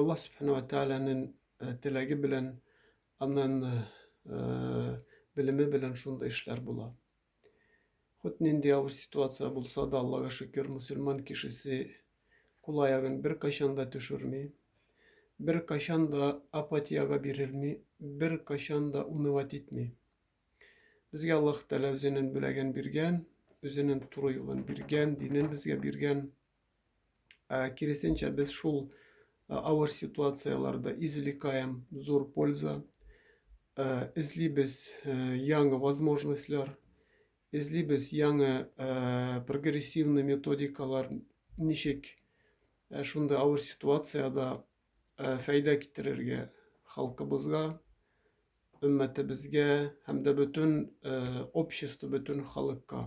Аллаһ Сүбхәнә ва Тәгаләнең э, теләге белән, аннан э, белеме белән шундый эшләр була. Хут нинди авыр ситуация булса да, Аллага шөкер, мусульман кешесе кул аягын бер кайчан да төшерми, бер кайчан да апатияга бирелми, бер кайчан да унывать итми. Безгә Аллаһ Тәгалә үзенең бүләген биргән, үзенең туры юлын биргән, динен безгә биргән. Ә киресенчә, без шул авыр ситуацияләрдә извлекаем зур польза, эзлибез яңа возможностьлар, эзлибез яңа прогрессивный методикалар, ничек шундый авыр ситуациядә фәйдә китерергә халкыбызга, өммәтебезгә һәм дә бөтен общество, бөтен халыкка.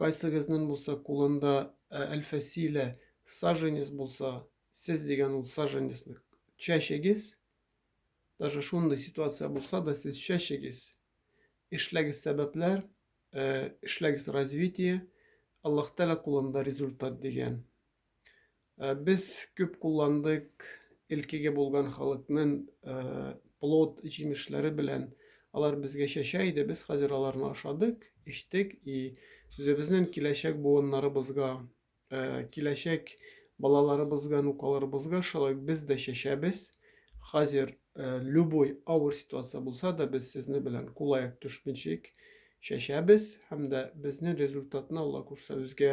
Кайсыгызның булса кулында әлфәсилә саженец булса, сез дигән ул саженецны чәчегез, даже шундый ситуация булса да сез чәчегез, эшләгез сәбәпләр, эшләгез развитие, Аллаһ Тәгалә кулында результат дигән. Без күп кулландык Элкеге булган халыкнын плод җимешләре белән алар безгә чәчә иде, без хәзер аларны ашадык, эчтек и үзебезнен киләчәк буыннарыбызга, киләчәк балаларыбызга, нукаларыбызга шулай ук без дә чәчәбез. Хәзер любой авыр ситуация булса да без сезне белән кул аяк төшмичек чәчәбез һәм дә безнен результатны Алла күрсә үзгә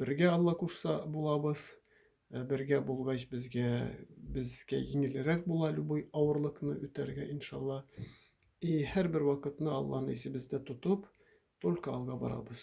Бергә Алла кушса булабыз. Ә бергә булгач безгә безгә җиңелрәк була любой авырлыкны үтәргә иншалла. И һәрбер вакытны Алланы исебездә тотып, только алга барабыз.